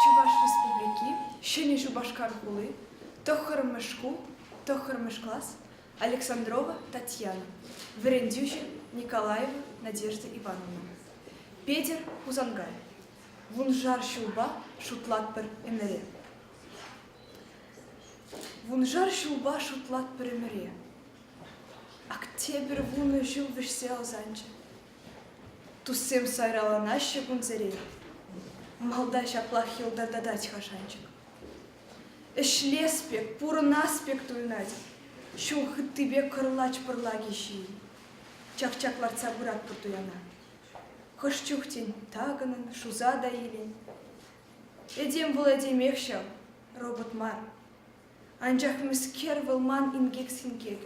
Чӑваш Республики, Ҫӗнӗ Шупашкар хули, тӑххӑрмӗш шкул, тӑххӑрмӗш класс, Александрова Татьяна, вӗрентӳҫӗ Николаева Надежда Ивановна, Петӗр Хусанкай. Вуншар ҫулпа шутлатпӑр ӗмӗре. Вуншар ҫулпа шутлатпӑр ӗмӗре. Октябрь вунӑ ҫул вӗҫсе ӑсанчӗ. Туссем сайраланаҫҫӗ кунсерен. Малта ҫаплах йӑлтӑртатать-ха шанчӑк. Ӗҫлес пек, пурӑнас пек туйӑнать. Ҫул хыттипе кӑрлач пӑрлаки ҫий. Чак-чак лартса пыратпӑр туяна. Хӑш чух, тен, такӑнӑн, шуса та илен. Этем вулать-илмех ҫав, робот мар. Анчах мӗскер вӑл ман инкек-синкек?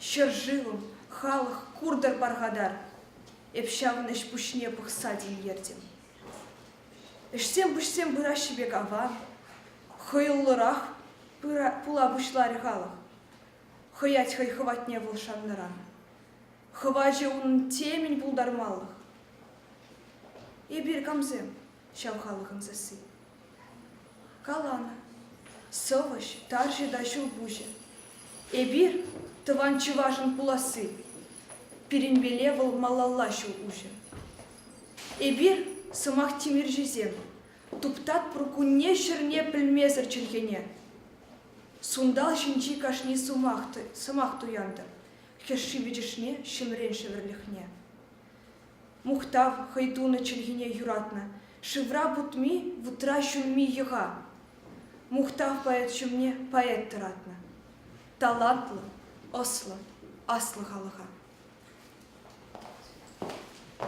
Ҫӗршывӑм, халӑх, куртӑр пархатар! Эп ҫавӑн ӗҫ пуҫне пӑхса тинкертӗм. Ӗҫсем-пуҫсем пыраҫҫӗ пек аван, хӑйӑллӑрах пула пуҫларӗ халӑх. Хӑять хӑй хӑватне вӑл шаннӑран. Хӑвачӗ унӑн темӗн пултармалӑх. Эпир камсем ҫав халӑхӑн сасси? Каланӑ сӑвӑҫ, тарҫӑ та ҫӳлпуҫӗ. Эпир, тӑван чӑвашӑн пуласси, пирӗнпеле вӑл малалла ҫул уҫӗ. Эпир, сӑмах тимӗрҫисем, туптатпӑр кунне-ҫӗрне пӗлмесӗр чӗлхене. Сунтал ҫинчи кашни сӑмах, сӑмах туянтӑр хӗшши-вӗчӗшне, ҫӗмрен шӗвӗрлӗхне. Мухтав хӑй тунӑ чӗлхине юратнӑ, шывра путми, вутра ҫунми йӑха. Мухтав поэт ҫумне поэт тӑратнӑ. Талантлӑ, ӑслӑ, аслӑ халӑха.